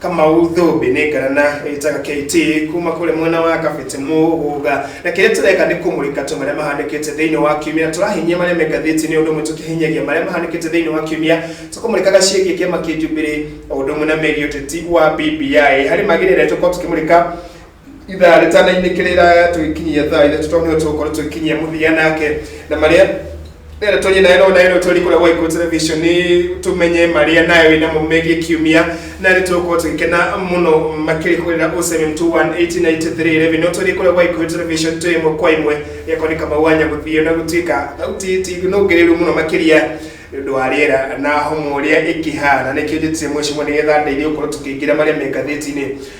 Kamau Thũmbĩ nĩ ngarana ĩtaga KT kuma kũrĩ mwena wa Kabete Mũgũga, na kĩrĩa tũreka nĩ kũmũrĩka tu marĩa mahanĩkĩte thĩinĩ wa kiumia, tũrahinyia marĩa me ngathĩti-inĩ ũndũ ũmwe tũkĩhinyagia marĩa mahanĩkĩte thĩinĩ wa kiumia, tũkũmũrĩkaga ciĩgiĩ kĩama kĩa Jubilee o ũndũ ũmwe na megiĩ ũteti wa BBI. Harĩ mangĩ nĩ arĩa tũkoragwo tũkĩmũrĩka ithaa rĩtanainĩ kĩrĩra tũgĩkinyia thaa ithatũ tondũ nĩo tũgũkorwo tũgĩkinyia mũthia nake na marĩa rĩrĩa tũnyĩ nayo no nayo tũri kũrĩa gwa Ikuũ Television nĩ tũmenye marĩa nayo wĩ namo megiĩ kiumia na nĩ tũgũkorwo tũgĩkena mũno makĩrĩ kũrĩra 07218983 revenue no tũri kũrĩa gwa Ikuũ Television twĩ ĩmwe kwa ĩmwe gĩakwa nĩ kamau wanya gũthiĩ na gũtuĩka thauti ti nũngĩrĩru mũno makĩria nĩ ũndũ wa rĩera na homo ũrĩa ĩkĩhana nĩkĩo njĩtire mwĩcimwe nĩgetha ndeithie gũkorwo tũkĩingĩra marĩa me ngathĩti-inĩ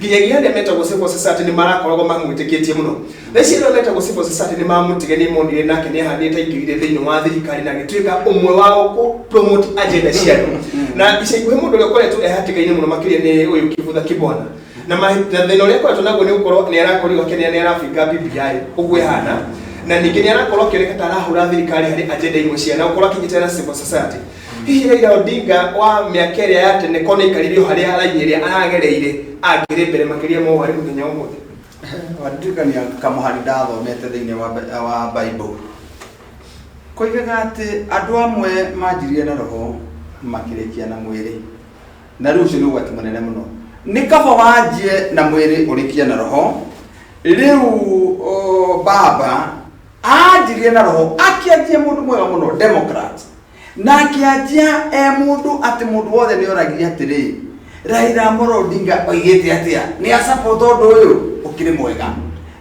nginyagia arĩa metagwo civil society nĩ marakoragwo mamwĩtĩkĩtie mũno na ici arĩa metagwo civil society nĩ mamũtige nĩ monire nake nĩ ahandĩte indo irĩ thĩinĩ wa thirikari na agĩtuĩka ũmwe wao kũ promote agenda cia andũ na ica ikuhĩ mũndũ ũrĩa ũkoretwo ehatĩka-inĩ mũno makĩria nĩ ũyũ kĩbutha kĩbwana na ma- na thĩna ũrĩa akoretwo naguo nĩ gũkorwo nĩ arakorirwo akĩnea nĩ arabinga BBI ũguo ĩhana na ningĩ nĩ arakorwo akĩoneka ta arahũra thirikari harĩ agenda imwe cia na gũkorwo akinyitĩra na civil society Hihi Raila Odinga wa mĩaka ĩrĩa ya tene korwo nĩaikarire o harĩa raini ĩrĩa aragereire angĩrĩ mbere makĩria ma ũũ arĩ mũthenya ũmũthĩ? Wandirikania kamũhari ndathomete thĩinĩ wa Bi- wa Bible. Koigaga atĩ andũ amwe manjirie na roho makĩrĩkia na mwĩrĩ. Na rĩu ũcio nĩ ũgwati mũnene mũno. Nĩ kaba wanjie na mwĩrĩ ũrĩkie na roho. Rĩu o, baba anjirie na roho akĩanjia mũndũ mwega mũno democrat na akĩanjia e mũndũ atĩ mũndũ wothe nĩ oragia atĩrĩ raira amoro odinga oigĩte atĩa nĩ acapota ũndũ ũyũ ũkĩrĩ mwega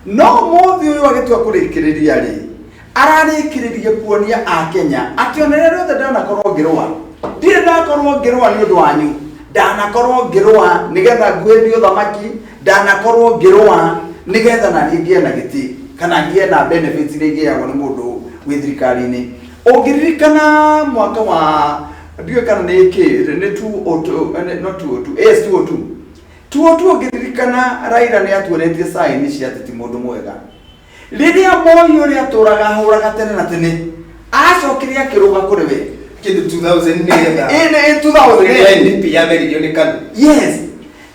no mũthĩ ũyũ agĩtua kũrĩkĩrĩria rĩ ararĩkĩrĩria kuonia akenya atĩ ona rĩrĩa rĩothe ndanakorwo ngĩrũa ndirĩ ndakorwo ngĩrũa nĩ ũndũ wanyu ndanakorwo ngĩrũa nĩgetha nguhĩrie ũthamaki Ndanakorwo ngĩrũa nĩgetha na niĩ ngĩe na gĩtĩ kana ngĩe na benefits iria ingĩheagwo nĩ mũndũ wĩ thirikari-inĩ. Ũngĩririkana mwaka wa, ndiũĩ kana nĩ kĩ, nĩ 2002, no 2002, yes 2002. 2002 ũngĩririkana Raila nĩ atuonetie sign cia atĩ ti mũndũ mwega. Rĩrĩa Moi ũrĩa atũraga ahũraga tene na tene, acokire akĩrũga kũrĩ we. Kĩndũ 2000 nĩgetha. Ĩndĩ 2000. Rĩrĩa NDP yameririo nĩ KANU. Yes.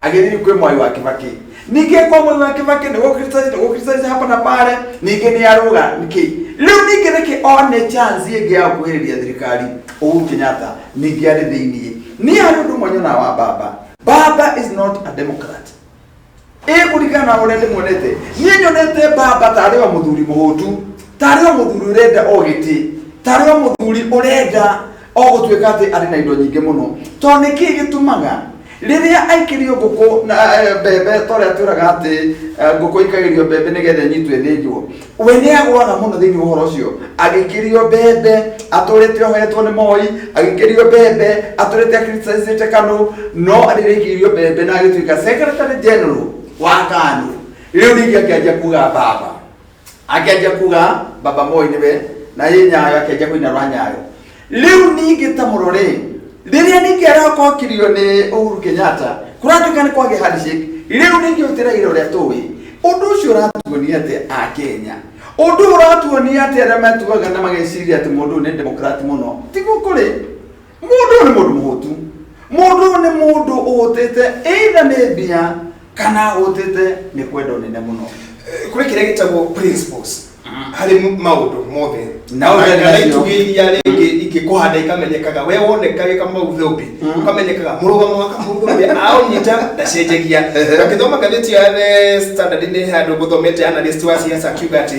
agĩthiri kwĩ mwai wa kĩbakĩ ningĩ kwa mwai wa kĩbakĩ nĩgũkristanĩte hapa na pale ningĩ nĩarũga nĩkĩ rĩu ningĩ nĩkĩ one chance ĩngĩ ya gũkuhĩrĩria thirikari Uhuru Kenyatta ningĩ arĩ thĩinĩ niĩ harĩ ũndũ ũmwe nyonaga wa baba baba is not a democrat ĩ kũringana na ũrĩa ndĩmuonete niĩ nyonete baba tarĩ o mũthuri mũhũtu tarĩ o mũthuri ũrenda o gĩtĩ tarĩ o mũthuri ũrenda o gũtuĩka atĩ arĩ na indo nyingĩ mũno tondũ nĩ kĩĩ gĩtũmaga rĩrĩa aikĩrio ngũkũ na eh, mbembe ta ũrĩa twĩraga atĩ eh, ngũkũ ikagĩrio mbembe nĩgetha ĩnyitwo ĩthĩnjwo we nĩ agwaga mũno thĩinĩ wa ũhoro ũcio agĩkĩrio mbembe atũrĩte ohetwo nĩ moi agĩkĩrio mbembe atũrĩte akritisacĩte kanũ no rĩrĩa aikĩrio mbembe na agĩtuĩka secretary general wa kanũ rĩu ningĩ akĩanjia kuga baba akĩanjia kuga baba moi nĩwe na yĩ nyayo akĩanjia kũina rwa nyayo rĩu ningĩ ta mũrore rĩrĩa ningĩ arakokirio nĩ ũhuru kenyatta kũratuĩka nĩ kwagĩa handshake rĩu ningĩ ũtĩraira ũrĩa tũĩ ũndũ ũcio ũratuonia atĩ a kenya ũndũ ũyũ ũratuonia atĩ arĩa matuaga na mageciria atĩ mũndũ ũyũ nĩ demokrati mũno tiguo kũrĩ Mũndũ nĩ mũndũ mũhũtu. Mũndũ nĩ mũndũ ũhũtĩte either nĩ mbia kana ahũtĩte nĩ kwenda ũnene mũno. Kũrĩ kĩrĩa gĩtagwo principles harĩ maũndũ mothe. Na ũrĩa Na- na nacio. itugĩ iria rĩngĩ ingĩkũhanda ikamenyekaga we woneka wĩ kamau thũmbĩ ũkamenyekaga mũrũgamo wa kamau thũmbĩ aũnyita ndacenjagia ũgagĩthoma ngathĩti ya the standard nĩ handũ ngũthomete analyst wa siasa akiuga atĩ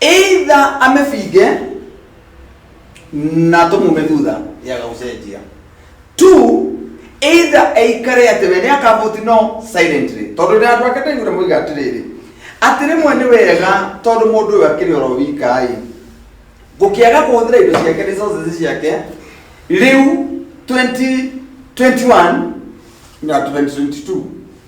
either amĩbinge na tũmume thutha yaga gũcenjia two either aikare atĩ we nĩ akavoti no silently tondũ nĩ andũ ake ndaigũre moiga atĩrĩrĩ atĩ rĩmwe nĩ wega tondũ mũndũ ũyũ akĩrĩ oro wika-ĩ gũkĩaga kũhũthĩra indo ciake resources ciake rĩu 2021 na 2022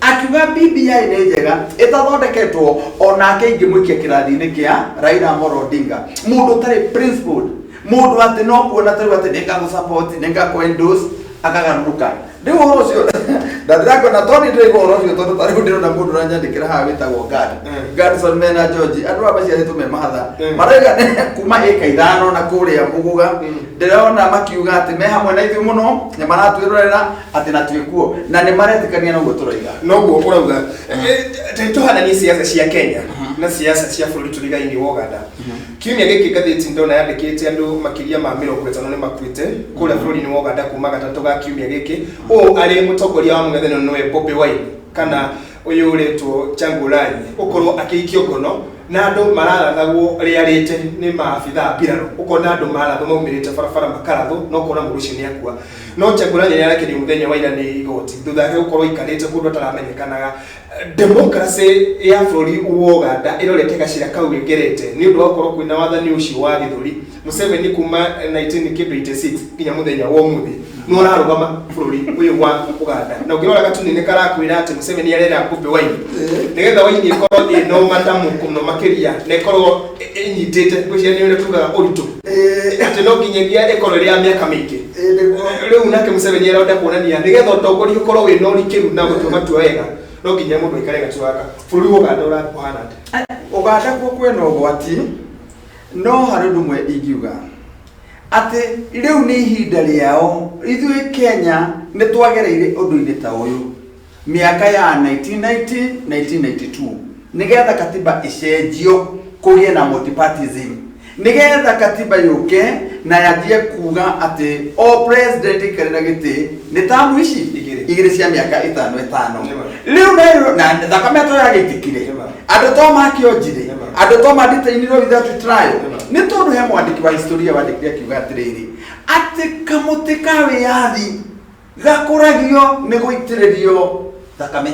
akiuga bbi nĩ njega ĩtathondeketwo onake ingĩmũikia kĩrathi-inĩ kĩa raira amoro odinga mũndũ ũtarĩ principled mũndũ atĩ no kuona tarĩu atĩ nĩngagũsupport nĩngakũendorse akagarũrũka rĩu ũhoro ũcio ndathirangona tondĩ ndĩraigua ũhoro ũcio tondũ tarĩu ndĩrona mũndũ ũranyandĩkĩra haha wĩtagwo gad gadson mena george andũ aya maciarĩtwo me mahatha Mm. maraiga nĩ kuma ĩka ithano na kũrĩa mũgũga ndĩrona makiuga atĩ me hamwe na ithuĩ mũno na maratwĩrorera atĩ na twĩ kuo na nĩ maretĩkania na ũguo tũroiga noguo ũrauga tũhananie ciaca cia kenya na ciaca cia bũrũri tũrigainie wa ũganda kiumia gĩkĩ ngathĩti ndona yandĩkĩte andũ makĩria ma mĩrongo ĩtano nĩ makuĩte kũrĩa bũrũri-inĩ wa ũganda kuma gatatũ ga kiumia gĩkĩ ũũ arĩ mũtongoria wa mũng'ethanĩro nĩwe bobi wine kana ũyũ ũretwo changulanyi ũkorwo akĩikio ngono na andũ mararathagwo rĩarĩte nĩ maabithaa mbirarũ ũkona andũ marathwo maumĩrĩte barabara makarathwo na ũkona mũndũ ũcio nĩ akua No Chagula nĩ arekereirio mũthenya wa ira nĩ igoti thutha wake gũkorwo aikarĩte kũndũ ataramenyekanaga. Democracy ya bũrũri wa Uganda ĩrorete gacira kau ĩngerete nĩ ũndũ wa gũkorwo kwĩna wathani ũcio wa gĩthũri. Museveni kuma 1986 nginya mũthenya wa ũmũthĩ nĩ ararũgama bũrũri ũyũ wa Uganda. Na ũngĩrora gatuni nĩ karakwĩra atĩ Museveni arera Bobi Wine nĩgetha Wine ĩkorwo ĩna ũmatamu mũno makĩria na ĩkorwo ĩnyitĩte ngwĩciria nĩ ũrĩa tugaga ũritũ atĩ no nginyagia ĩkorwo ĩrĩ ya mĩaka mĩingĩ rĩu nake mũceveni arenda kuonania nĩgetha ũtongoria ũkorwo wĩna ũrikĩru na gũtua matua wega no nginya mũndũ aikare gatuaga bũrũri wa ũganda ũra- ũhana atĩa ũganda kuo kwĩna ũgwati no harĩ ũndũ ũmwe ingiuga atĩ rĩu nĩ ihinda rĩao ithuĩ kenya nĩ twagereire ũndũ-inĩ ta ũyũ Myaka ya 1990-1992 nĩ getha katiba ĩcenjio kũgĩe na multipartyism nĩ getha katiba yũke na yambie kuga atĩ o president aikarĩra gĩtĩ nĩ tamu ici Igĩrĩ. igĩrĩ cia mĩaka ĩtano ĩtano Nĩma. rĩu nayo na thakame to yagĩitikire Nĩma. andũ to makĩonjire Nĩma. andũ to manditĩinirwo without trial Nĩma. nĩ tondũ he mwandĩki wa historia wandĩkire akiuga atĩrĩrĩ atĩ kamũtĩ ka wĩyathi gakũragio nĩ gũitĩrĩrio thakame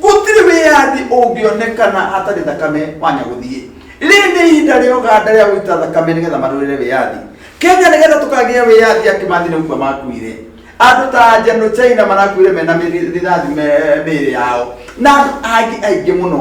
gũtirĩ wĩyathi ũngĩonekana hatarĩ thakame wa nyagũthiĩ rĩrĩ nĩ ihinda rĩa ũganda rĩa gũita thakame nĩgetha marũĩre wĩyathi kenya nĩgetha tũkagĩa wĩyathi ya kĩmathi nĩ gũkua makuire andũ ta njano china marakuire mena mĩri- rithathi me- mĩĩrĩ yao na andũ angĩ aingĩ mũno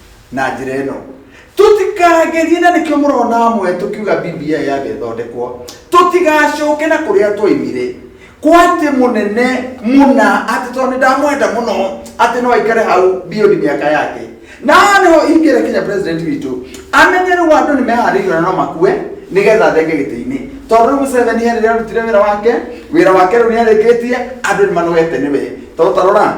na njĩra ĩno tũtikagerie na nĩkĩo mũrona amwe tũkiuga bbi yambe ĩthondekwo tũtigacoke na kũrĩa twaimire kwatĩ mũnene mũna atĩ tondũ nĩ ndamwenda mũno atĩ no aikare hau biodi mĩaka yake na nĩho ingĩre kinya president witũ amenye rĩu andũ nĩ meharĩirio na no makue nĩgetha athenge gĩtĩ-inĩ tondũ rĩu mũceveni he rĩrĩa arutire wĩra wake wĩra wake rĩu nĩ arĩkĩtie andũ nĩ manogete nĩwe tondũ tarora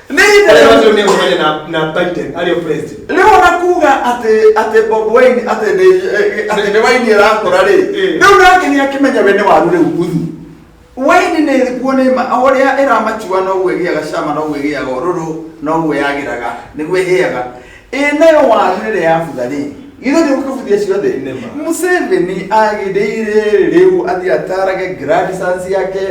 Nĩ ihinda Arĩa rĩa- macio nĩ ũmene na na Biden arĩ o president. rĩu ona kuga atĩ atĩ bob wine atĩ nĩ eh, atĩ nĩ waini arakũra rĩ Eh. rĩu nake nĩ akĩmenya we nĩ waru rĩu guthu waini nĩ ĩrikuo nĩ ma o ũrĩa ĩramatua noguo ĩgĩaga cama noguo ĩgĩaga ũrũrũ noguo yagĩraga nĩguo ĩhĩaga ĩ nayo waru rĩrĩa yabutha rĩ githĩ nĩ ũkabuthia ciothe Nĩ ma. museveni agĩrĩire rĩu athiĩ atarage grandsons yake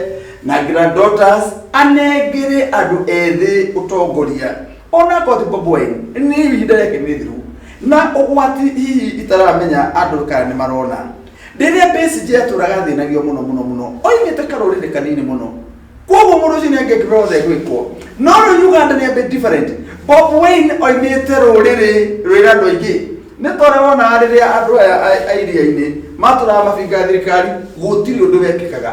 na granddaughters anengere andũ ethĩ ũtongoria ona koti boboen nĩ ihinda rĩake nĩ thiru na ũgwati hihi itaramenya andũ kana nĩ marona rĩrĩa PSG yatũraga thĩnagio mũno mũno mũno oimĩte karũrĩrĩ kanini mũno koguo mũndũ ũcio nĩ angĩkĩbeo othe gwĩkwo no rĩu uganda nĩ a bit different bob wayne oimĩte rũrĩrĩ rwĩra andũ aingĩ nĩ tore wonaga rĩrĩa andũ aya a- a iria-inĩ matũraga mabinga thirikari gũtirĩ ũndũ wekĩkaga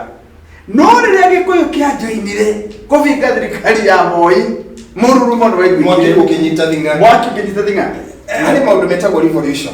no rĩrĩa gĩkũyũ kĩanjoinire kũbinga thirikari ya moi mũrurumo nĩ mwaki waiguĩkire ũkĩnyita thing'a mwaki ũkĩnyita thing'a nĩ maũndũ metagwo revolution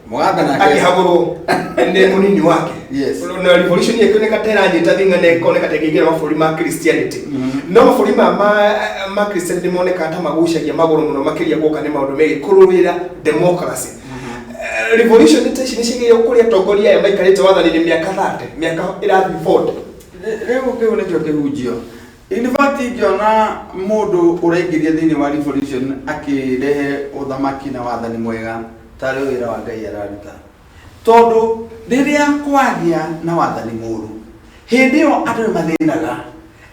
Mũganda nake- akĩhagũrwo nĩ mũnini wake Yes. na revolution yake nĩ kateranyita thinga na ĩkoneka ta ĩkĩingĩra mabũrũri ma christianity no mabũrũri ma ma- ma christianity monekaga ta magucagia magũrũ mũno makĩria gũka nĩ maũndũ megiĩ kũrũĩrĩra democracy Eh, revolution ta ici nĩ cigĩire kũrĩa atongoria aya maikarĩte wathani-inĩ mĩaka 30 mĩaka ĩrathiĩ 40 Rĩ- rĩu kĩu nĩkĩo kĩhunjio In fact ingĩona mũndũ ũraingĩria thĩinĩ wa revolution akĩrehe ũthamaki na wathani mwega tarĩ wĩra wa Ngai araruta. Tondũ rĩrĩa kwagĩa na wathani mũru, hĩndĩ ĩyo andũ nĩ mathĩnaga.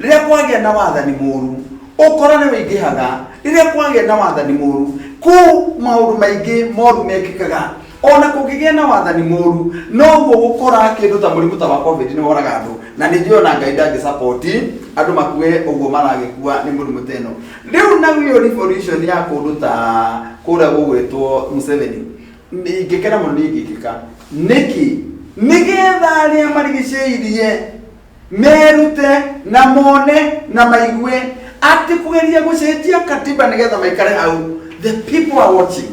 Rĩrĩa kwagĩa na wathani mũru, ũkora nĩ ũingĩhaga. Rĩrĩa kwagĩa na wathani mũru, kũu maũndũ maingĩ moru mekĩkaga. O na kũngĩgĩa na wathani mũũru, noguo gũkũra. Kĩndũ ta mũrimũ ta wa Covid nĩ woraga andũ, na nĩ njũĩ o na Ngai ndangĩ support andũ makue ũguo maragĩkua nĩ mũrimũ ta ĩno. Rĩu nayo revolution ya kũndũ ta kũrĩa gũgwĩtwo Museveni, ingĩkena mũno niĩ ingĩkĩka. Nĩkĩ? Nĩgetha arĩa marigicĩirie merute na mone na maigue atĩ kũgeria gũcenjia Katiba nĩgetha maikare hau, the people are watching.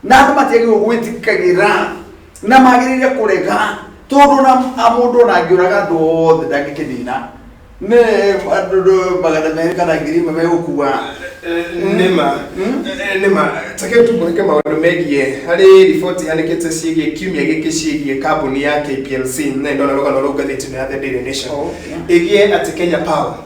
na andå matiagä gwä tigagä ra na magä rä ire kå rega tondå na må ndå ona angä å raga andå othe ndangä kä nina nä andå magana merä kana ngiri imwe megå kua nĩma Mm. Eh, nĩma take tũmũrĩke maũndũ megiĩ harĩ riboti yanĩkĩte ciĩgiĩ kiumia gĩkĩ ciĩgiĩ kambuni ya kplc na ndona rũgano rũu ngathĩti-inĩ ya the daily nation Okay. ĩgiĩ atĩ kenya power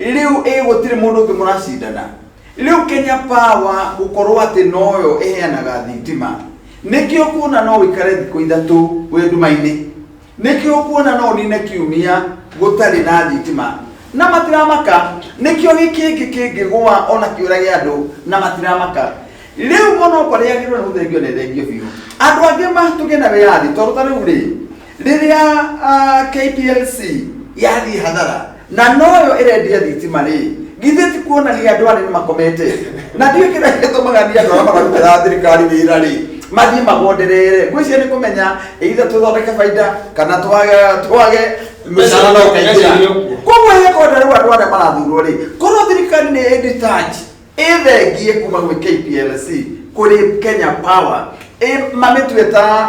Rĩu ĩ gũtirĩ mũndũ ũngĩ mũracindana? Rĩu Kenya Power gũkorwo atĩ noyo ĩheanaga thitima, nĩkĩo kuona no ũikare thikũ ithatũ wĩ nduma-inĩ, nĩkĩo kuona no ũnine kiumia gũtarĩ na thitima, na matiramaka, nĩkĩo gĩkĩngĩ kĩngĩgũa ona kĩũrage andũ na matiramaka. Rĩu mũno ũkorĩa agĩrĩirwo nĩ gũthengio nĩ thengio biũ. Andũ angĩ matũgĩe na wĩyathi tondũ ta rĩu rĩ, Rĩrĩa KPLC yathiĩ hathara na noyo ĩrendia thitima rĩ githĩ ti kuonania andũ arĩa makomete na ndiũ kĩrĩa gĩtũmaga nĩ andũ arĩa mararutĩra thirikari wĩra rĩ mathiĩ magonderere ngwĩciria nĩ kũmenya either tũthondeke baida kana twage twage mũcara no ũkaingĩra koguo hekonda rĩu andũ arĩa marathurwo rĩ korwo thirikari nĩ ĩditach ĩthengie kuma gwĩ KPLC kũrĩ Kenya Power ĩ- mamĩtue ta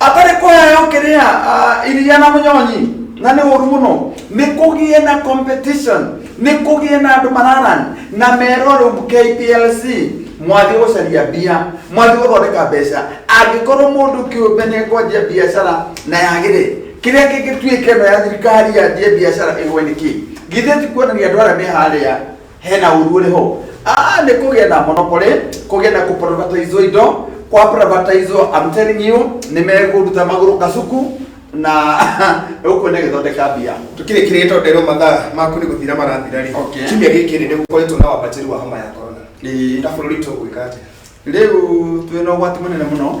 atarĩ kũheo kĩrĩa ah, iria na mũnyonyi na nĩ ũru mũno nĩ kũgĩe na competition nĩ kũgĩe na andũ mararan na merwo rĩu KPLC mwathiĩ gũcaria mbia mwathiĩ gũthondeka mbeca angĩkorwo mũndũ kĩũmbe nĩ ekwanjia biacara na yagĩre kĩrĩa kĩngĩtuĩka ĩno ya thirikari yanjie biacara ĩgwe nĩ kĩ githĩ ti kuonania andũ arĩa me harĩa hena ũru ũrĩ ho Ah, nĩ kũgĩa na monopoly kũgĩa na kũprivatize indo kwa privatize I'm telling you nĩ megũruta magũrũ kacuku na ũkuo nĩ gĩthondeka mbia tukire kire to ndero mathaa maku ni guthira marathira ri Okay. kimya giki ni gukoretwo na wambatiri wa homa ya corona Ĩĩ. na bururi to gwika atia rĩu twĩna ũgwati mũnene mũno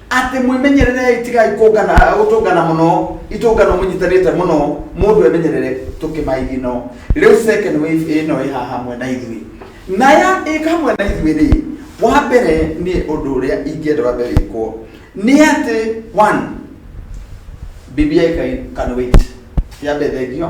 atĩ mwĩmenyererei tigai kũngana gũtũngana mũno itũngano mũnyitanĩte mũno mũndũ emenyerere tũkĩmaigino rĩu second wave ĩno ĩ haha hamwe na ithuĩ na ya ĩka hamwe na ithuĩ rĩ wa mbere nĩ ũndũ ũrĩa ingĩenda wambe wĩkwo nĩ atĩ one bibi yaikai can wait yambe thengio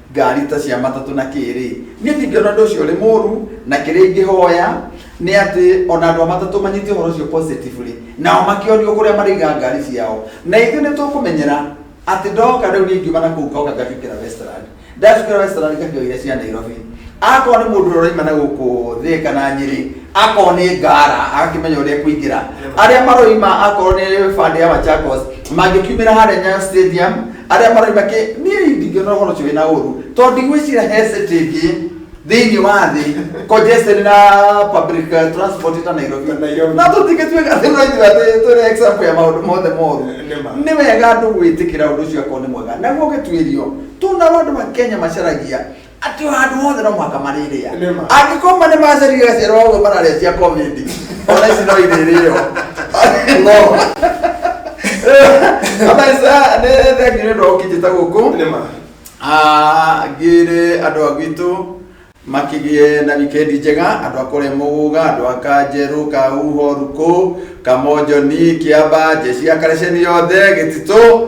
ngari ta cia matatũ na kĩrĩ niĩ ndingĩona ũndũ ũcio ũrĩ mũru na kĩrĩa ingĩhoya nĩ atĩ ona andũ a matatũ manyite ũhoro ũcio positively nao makĩonio kũrĩa marĩiga ngari ciao na ithuĩ nĩ tũkũmenyera atĩ ndoka rĩu niĩ ngiuma na kũu ngoka ngacukĩra westland ndacukĩra westland ngakĩo iria cia nairobi akorwo nĩ mũndũ ũroima na gũkũ thĩ kana nyĩrĩ akorwo nĩ ngara agakĩmenya ũrĩa kũingĩra arĩa maroima akorwo nĩ bandĩ ya machakos mangĩkiumĩra harĩa nyayo stadium arĩa maroiga kĩ niĩ ndingĩona ũhoro ũcio wĩna ũru tondũ ndigwĩcira he city ĩngĩ thĩinĩ wa thĩ congested na public uh, transport ta Nairobi Na Nairobi. na tũtingĩtuĩka atĩ no ithuĩ atĩ twĩre example ya maũndũ mothe moru Nĩ ma. nĩ wega andũ gwĩtĩkĩra ũndũ ũcio akorwo nĩ mwega naguo ũgĩtuĩrio tũna andũ ma Kenya macaragia atĩ handũ hothe no mũhaka marĩrĩa Nĩ ma. angĩkorwo ma nĩ macerire gacerwo ũguo mararĩa cia covid ona ici no irĩrĩo no abaisa nĩ thengio nĩ ũndũ wa ũkinyĩte gũkũ nĩ ma Ah, ngĩre andũ a gwitũ makĩgĩe na wikendi njega andũ a kũrĩa mũgũga andũ a kanjerũ kauho rukũ kamonjoni kĩamba njeci ya karaceni yothe gĩtitũ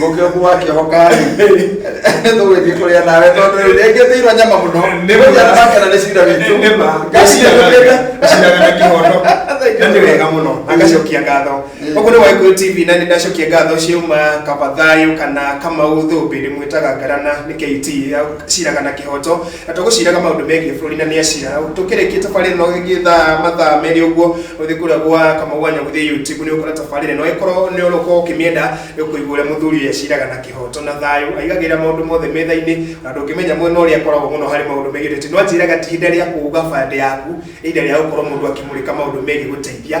Mũkĩ ũku wa kĩoho karĩ. Tũgwĩthiĩ kũrĩa nawe tondũ rĩu rĩngĩ thĩirwo nyama mũno. Nĩ ma. Mũthenya makena nĩ cira witũ. Nĩ ma. Gacira gũkĩte. Gacira na kĩhoto. Na nĩ wega mũno. Na ngacokia ngatho. Mm. Ũguo nĩ Waigũrũ TV na nĩ ndacokia ngatho ciauma kaba thayũ kana kamau thũmbĩ ndĩmwĩtaga ngarana nĩ KT ya cira kana kĩhoto. na tũgũciraga maũndũ megiĩ bũrũri na nĩ acira tũkĩrĩkia tabarĩra ĩno ĩngĩ thaa mathaa merĩ ũguo ũthiĩ kũrĩa gwa kamau wa nyagũthĩ youtube nĩ ũkora tabarĩra ĩno ĩkorwo nĩ ũrũkorwo ũkĩmĩenda ĩkũigua ũrĩa mũthuri ũyũ aciraga na kĩhoto na thayũ aigagĩrĩra maũndũ mothe metha-inĩ na ndũngĩmenya mwena ũrĩa akoragwo mũno harĩ maũndũ megiĩ ũteti no anjĩraga ti ihinda rĩa kũuga bande yaku nĩ ihinda rĩa gũkorwo mũndũ akĩmũrĩka maũndũ megiĩ gũteithia